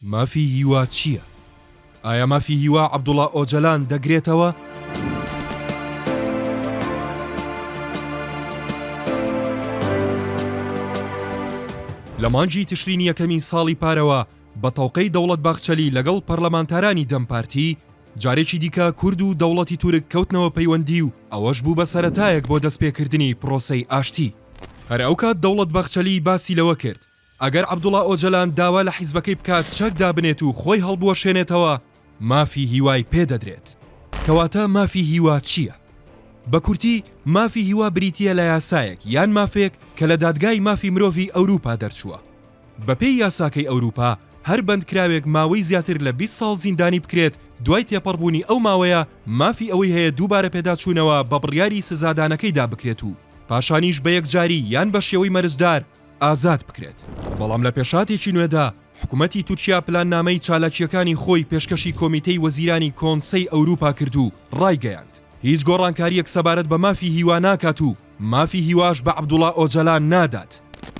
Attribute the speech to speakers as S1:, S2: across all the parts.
S1: مافی هیوا چییە؟ ئایا مافی هیوا عەبدوڵا ئۆجەلان دەگرێتەوە؟ لە مانگی تشرینی یەکەمی ساڵی پارەوە بە تەوقەی دەوڵەت باخچەلی لەگەڵ پەرلەمانتارانی دەم پارتی جارێکی دیکە کورد و دەوڵەتی تورک کەوتنەوە پەیوەندی و ئەوەش بوو بە سەتایەک بۆ دەستپێکردنی پرۆسەی ئاشتی هەر ئەو کات دەوڵەت باخچەلی باسی لەوە کرد ئەگەر عەبدوڵا ئۆجەلان داوا لە حیزبەکەی بکات چەک دابنێت و خۆی هەڵبوەشێنێتەوە مافی هیوای پێ دەدرێت. کەواتە مافی هیوا چییە؟ بە کورتی مافی هیوا بریتییە لە یاسایەک یان مافێک کە لە دادگای مافی مرۆڤی ئەوروپا دەرچووە. بەپێی یاساکەی ئەوروپا هەر بەندکراوێک ماوەی زیاتر لە بیست ساڵ زیندانی بکرێت دوای تێپەڕبوونی ئەو ماوەیە مافی ئەوەی هەیە دووبارە پێداچوونەوە بە بڕیاری سزادانەکەیدا بکرێت و پاشانیش بە یەکجاری یان بە شێوەی مەرجدار ئازاد بکرێت، بەڵام لە پێشهاتێکی نوێدا حکومەتی تورکیا پلاننامەی چالاکییەکانی خۆی پێشکەشی کۆمیتەی وەزیرانی کۆنسەی ئەوروپا کرد و ڕایگەیاند، هیچ گۆڕانکارییەک سەبارەت بە مافی هیوا ناکات و مافی هیواش بە عەبدوڵا ئۆجەلان نادات.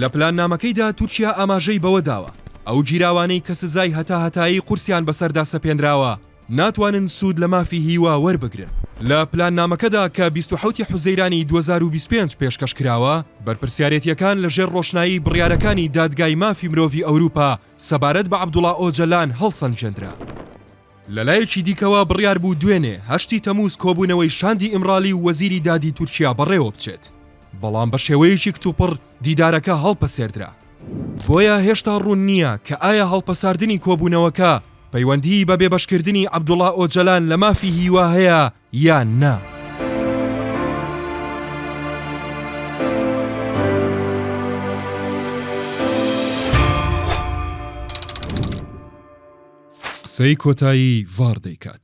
S1: لە پلاننامەکەیدا تورکیا ئاماژەی بەوە داوە، ئەو گیراوانەی کە سزای هەتاهەتایی قورسیان بەسەردا سەپێنراوە، ناتوانن سوود لە مافی هیوا وەربگرن. لە پلاننامەکەدا کە بیست و حەوت ی حوزەیرانی دوو هەزار و بیست و پێنج پێشکەش کراوە، بەرپرسیارێتییەکان لە ژێر ڕۆشنایی بڕیارەکانی دادگای مافی مرۆڤی ئەوروپا سەبارەت بە عەبدوڵا ئۆجەلان هەڵسەنگێندرا. لەلایەکی دیکەوە بڕیار بوو دوێنێ، هەشت ی تەمووز کۆبوونەوەی شاندی ئیمرالی و وەزیری دادی تورکیا بەڕێوەبچێت، بەڵام بە شێوەیەکی کتوپڕ دیدارەکە هەڵپەسێردرا. بۆیە هێشتا ڕوون نییە کە ئایا هەڵپەساردنی کۆبوونەوەکە پەیوەندیی بە بێبەشکردنی عەبدوڵا ئۆجەلان لە مافی هیوا هەیە یان نا. قسەی کۆتایی ڤاڕ دەیکات.